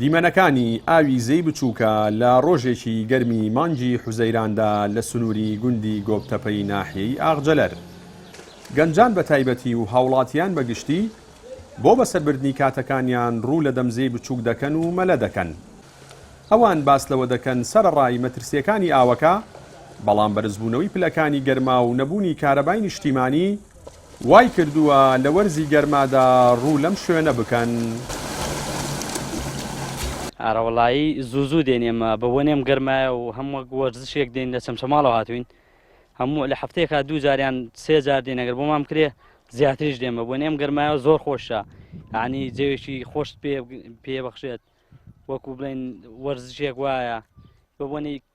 دیمەنەکانی ئاوی زێی بچووکە لە ڕۆژێکی گەرمی مانگی حوزەیراندا لە سنووری گوندی گۆپتەپەی ناحیەی ئاغجەلەر. گەنجان بە تایبەتی و هاوڵاتیان بە گشتی بۆ بەسەربردنی کاتەکانیان ڕوو لە دەم زێی بچووک دەکەن و مەلە دەکەن. ئەوان باس لەوە دەکەن سەرەڕای مەترسییەکانی ئاوەکە، بەڵام بەرزبوونەوەی پلەکانی گەرما و نەبوونی کارەبای نیشتیمانی، وای کردووە لە وەرزی گەرمادا ڕوو لەم شوێنە بکەن. ئارەوەڵایی زوو زوو دێن ئێمە بە وەنێم گەرمایە و هەم وەک وەرزشێک دێن لە چەمچەماڵەوە هاتووین هەموو لە حەفتەیەکا دوو جار یان سێ جار دێن ئەگەر بۆمان بکرێ زیاتریش دێن بە وەنێم گەرمایەوە زۆر خۆشە یانی جەوێکی خۆشت پێ پێ بەخشێت وەکو بڵێن وەرزشێک وایە بە وەنی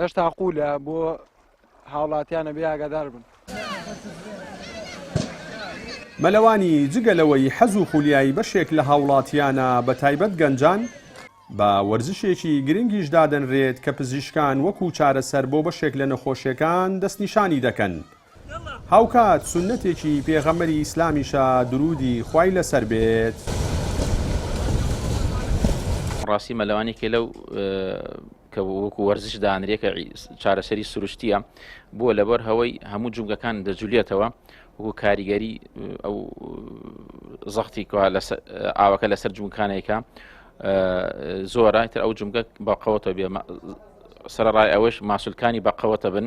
هێشتا قوولە بۆ هاوڵاتیان ئەبێ ئاگادار بن. مەلەوانی، جگە لەوەی حەز و خولیای بەشێک لە هاوڵاتیانە بە تایبەت گەنجان، بە وەرزشێکی گرنگیش دادەنرێت کە پزیشکان وەکو چارەسەر بۆ بەشێک لە نەخۆشیەکان دەستنیشانی دەکەن، هاوکات سوننەتێکی پێغەمبەری ئیسلامیشە دروودی خوای لەسەر بێت. ڕاستی مەلەوانێکێ لەو کە وەکو وەرزش دانرێ کە چارەسەری سروشتیە بووە لەبەر هەوەی هەموو جومگەکان دەجولێتەوە وەکو کاریگەری ئەو زەختی ئاوەکە لەسەر جوونکانێکە زۆرە تر ئەو جومگە بەقەوەتە بێ سەرڕای ئەوەش ماسولکانی بەقەوەتە بن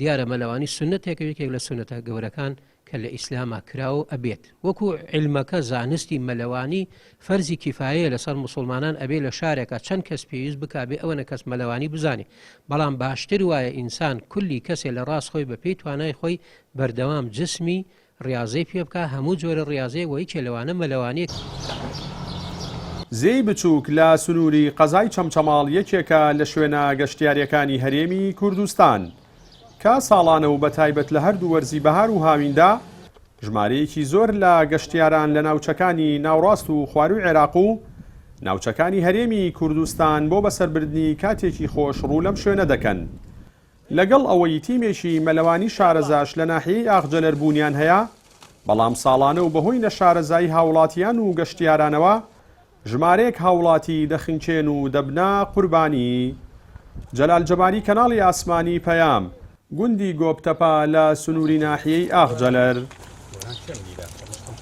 دیارە مەلەوانی سوننەتێکە یەکێک لە سوننەتە گەورەکان کە لە ئیسلاما کراوە و ئەبێت وەکو عیلمەکە زانستی مەلەوانی فەرزی کیفایەیە لەسەر موسوڵمانان ئەبێ لە شارێکا چەند کەس پێویست بکا بێ ئەوەنە کەس مەلەوانی بزانێ بەڵام باشتر وایە ئینسان کولی کەسێ لە ڕاست خۆی بە پێی توانای خۆی بەردەوام جسمی ڕیاضەی پێ بکە هەموو جۆرە ڕیاضەیەک وە یکێ لەوانە مەلەوانێتی. زێی بچووک لە سنووری قەزای چەمچەماڵ یەکێکە لە شوێنە گەشتیارییەکانی هەرێمی کوردستان، کە ساڵانە و بەتایبەت لە هەردوو وەرزی بەهار و هاویندا ژمارەیەکی زۆر لە گەشتیاران لە ناوچەکانی ناوڕاست و خوارووی عێراق و ناوچەکانی هەرێمی کوردستان بۆ بەسەربردنی کاتێکی خۆش ڕوو لەم شوێنە دەکەن. لەگەڵ ئەوەی تیمێکی مەلەوانی شارەزاش لە ناحیەی ئاغجەلەر بوونیان هەیە، بەڵام ساڵانە و بەهۆی نەشارەزایی هاوڵاتیان و گەشتیارانەوە ژمارەیەک هاوڵاتی دەخنکێن و دەبنە قوربانی. جەلال جەباری کەناڵی ئاسمانی پەیام، گوندی گۆپتەپە لە سنووری ناحیەی ئاغجەلەر.